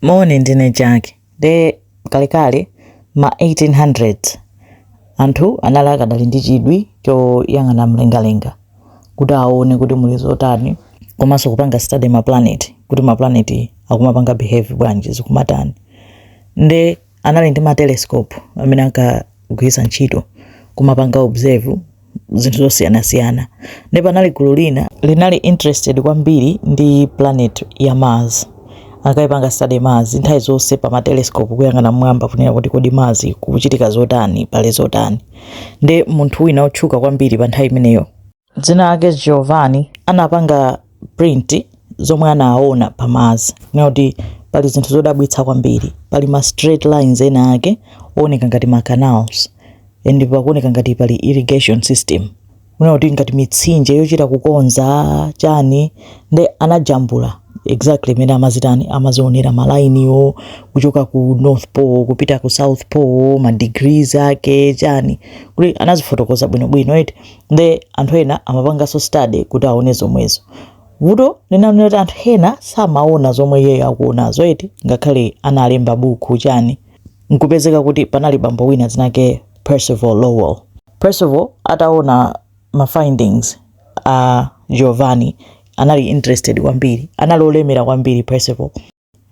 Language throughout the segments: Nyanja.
Moni, ndine Jack. Nde kalekale ma 1800s anthu anali akadali ndi chidwi choyang'ana mlengalenga kuti aone kuti muli zotani komanso kupanga study maplaneti kuti maplaneti akumapanga behave bwanji, zikumatani. Nde anali ndi ma telescope amene ankagwiritsa ntchito kumapanga observe zinthu zosiyanasiyana nde panali gulu lina linali interested kwambiri ndi planet ya Mars ankayipanga study Mars nthawi zonse pa ma telescope kuyang'ana mmwamba kunena kuti kodi Mars kukuchitika zotani pali zotani nde munthu wina otchuka kwambiri pa nthawi imeneyo dzina lake Giovanni anapanga print zomwe anaona pa Mars kunena kuti pali zinthu zodabwitsa kwambiri pali ma straight lines ena ake ooneka ngati ma canals and pakuoneka ngati pali irrigation system kunena kuti ngati mitsinje yochita kukonza chani nde anajambula exactly mene amazitani amazionera malainiwo kuchoka ku north pole kupita ku south pole ma degrees ake chani kuti anazifotokoza bwinobwino eti nde anthu ena amapanganso study kuti aone zomwezo. vuto linali loti anthu ena samaona zomwe iyeyo akuonazo eti ngakhale analemba bukhu chani nkupezeka kuti panali bambo wina dzina lake Percival Lowell. Percival ataona ma findings a Giovanni anali interested kwambiri, anali olemera kwambiri Percival.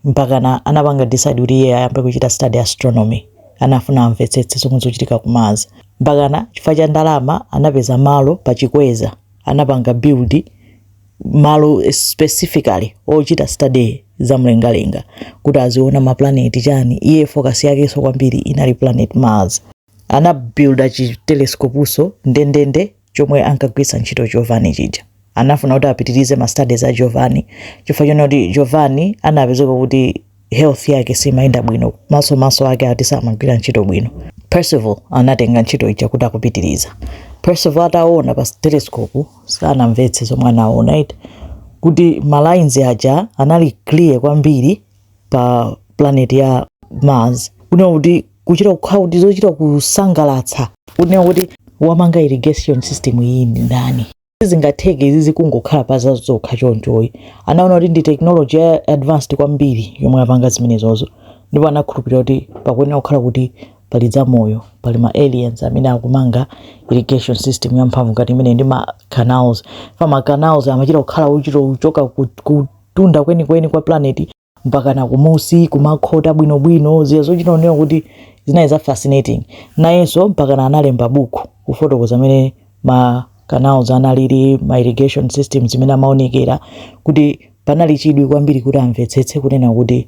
mpakana anapanga decide kuti iye ayambe kuchita study astronomy anafuna amvetsetse zomwe zochitika ku mars mpakana chifukwa cha ndalama anapeza malo pa chikweza anapanga build malo specifically ochita study za mlengalenga kuti aziona maplaneti chani iye focus yakenso kwambiri inali planet mars anabuilda chi telescopenso ndendende chomwe ankagwiritsa ntchito Giovanni chija anafuna kuti apitirize ma studies a Giovanni chifukwa chonena kuti Giovanni anapezeka kuti health yake simayenda bwino maso maso ake ati samagwira ntchito bwino Percival anatenga ntchito ija kuti akupitiriza Percival ataona pa telescope sanamvetse zomwe anaona eti kuti ma lines aja anali clear kwambiri pa planet ya mars kunena kuti kuchita kukhala kuti zochita kusangalatsa kunena kuti wamanga irrigation system iyi ndi ndani sizingatheke izi zikungokhala pa zazokha chonchoyi anaona kuti ndi technology ya advanced kwambiri yomwe apanga zimenezozo ndipo anakhulupirira kuti pakuyenera kukhala kuti pali zamoyo pali ma aliens amene akumanga irrigation system yamphamvu ngati imeneyi ndi ma canals, ma canals amachita kukhala ochita kuchoka ku, ku kumtunda kwenikweni kwa planeti mpakana kumusi kumakhota bwinobwino ziya zochita kuonekera kuti zinali za fascinating nayenso mpakana analemba buku kufotokoza amene ma canals analili ma irrigation systems zimene amaonekera kuti panali chidwi kwambiri kuti amvetsetse kunena kuti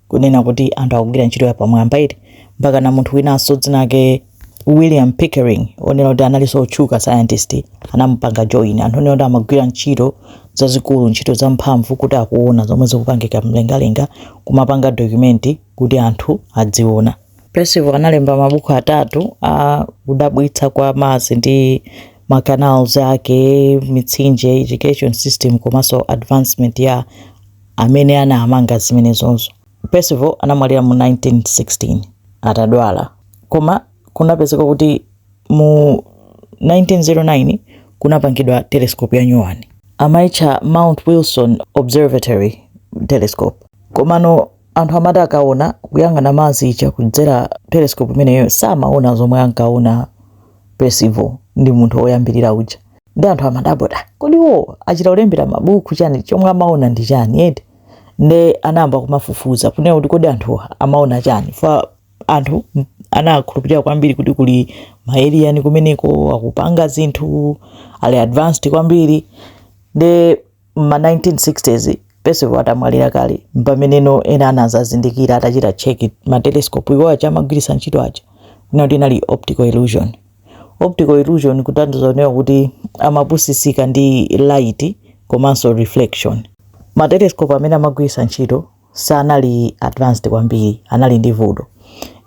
kunena kuti anthu akugwira ntchito yapamwamba iti mpaka na munthu winanso dzina lake William Pickering onena kuti analinso otchuka scientist anamupanga join anthu onena kuti amagwira ntchito zazikulu ntchito zamphamvu kuti akuona zomwe zikupangika mlengalenga kumapanga dokumenti kuti anthu adziona Percival analemba mabuku atatu a kudabwitsa kwa Mars ndi ma canals ake mitsinje irrigation system komanso advancement ya amene anamanga zimenezozo. Percival anamwalira mu 1916 atadwala, koma kunapezeka kuti mu 1909 kunapangidwa telescope ya nyuwani, amaitcha Mount Wilson Observatory Telescope. Komano anthu amati akaona kuyang'ana Mars ija kudzera telescope imeneyo samaona zomwe ankaona Percival ndi munthu woyambirira uja. ndi anthu amadabwa kuti kodi iwo achita kulembera mabuku chani chomwe amaona ndi chani eti nde anayamba kumafufuza kunena kuti kodi anthu amaona chani fa anthu m- anakhulupirira kwambiri kuti kuli ma alien kumeneko akupanga zinthu ali advanced kwambiri nde M'ma 1960s, Percival atamwalira kale, m'pameneno ena anazazindikira atachita check ma telescope iwo aja amagwiritsa ntchito aja, kunena kuti inali optical illusion. Optical illusion kutanthauza kunena kuti amapusitsika ndi light komanso reflection. Ma telescope amene amagwiritsa ntchito sanali advanced kwambiri anali ndi vuto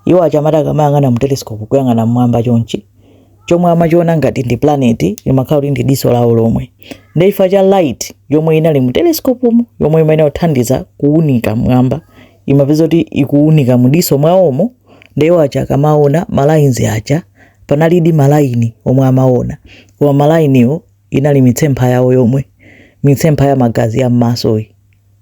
iwo aja amati akamayang'ana mu telescope kuyang'ana mmwamba chonchi chomwe amachiona ngati ndi planet imakhala kuti ndi diso lawo lomwe ndi ifa cha light yomwe inali mu telescope mu yomwe imene kuthandiza kuunika mmwamba imapeza kuti ikuunika mu diso mwawomo ndi iwo aja akamaona malaini aja panalidi malaini omwe amaona koma malainiwo inali mitsempha yawo yomwe mitsempha ya magazi ya mmasoyi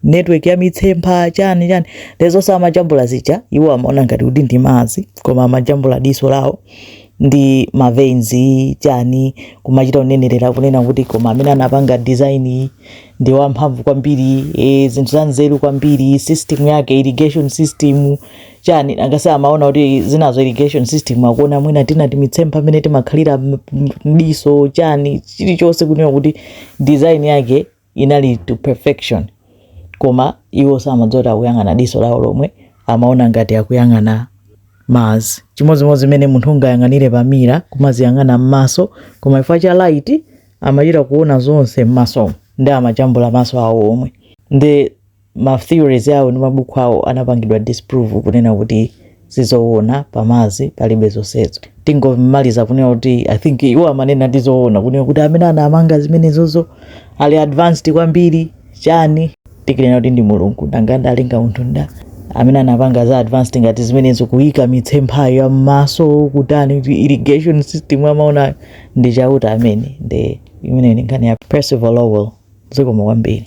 network ya mitsempha chani chani zonse amajambula zija iwo amaona ngati kuti ndi Mars koma amajambula diso lawo ndi maveins chani kumachita kunenerera kunena kuti koma amene anapanga design iyi ndi wamphamvu kwambiri e, zinthu za nzeru kwambiri system yake irrigation system chani angasi amaona kuti zinazo irrigation system akuona mwina tinatake timitsempha amene timakhalira m- m- mdiso chani chilichonse kunena kuti design yake inali to perfection koma iwo samadziwa kuti akuyang'ana diso lawo lomwe amaona ngati akuyang'ana Mars chimodzimodzi mmene munthu ungayang'anire pamira kumadziyang'ana m'maso koma chifukwa cha light amachita kuona zonse m'masomo nde amajambula maso awo omwe ndi ma theories awo ndi mabuku awo anapangidwa disprove kunena kuti sizowona pa Mars palibe zonsezo tingomaliza kunena kuti i think iwo amanenadi zowona kunena kuti amene anapanga zimenezozo ali advanced kwambiri chani tikunena kuti ndi mulungu nanga nda analenga munthu nda amene anapanga za advanced ngati zimenezo kuyika mitsempha ya mmaso kutani kuti irrigation system amaona ndi chauta amene ndi imene ndi nkhani ya Percival Lowell zikomo kwambiri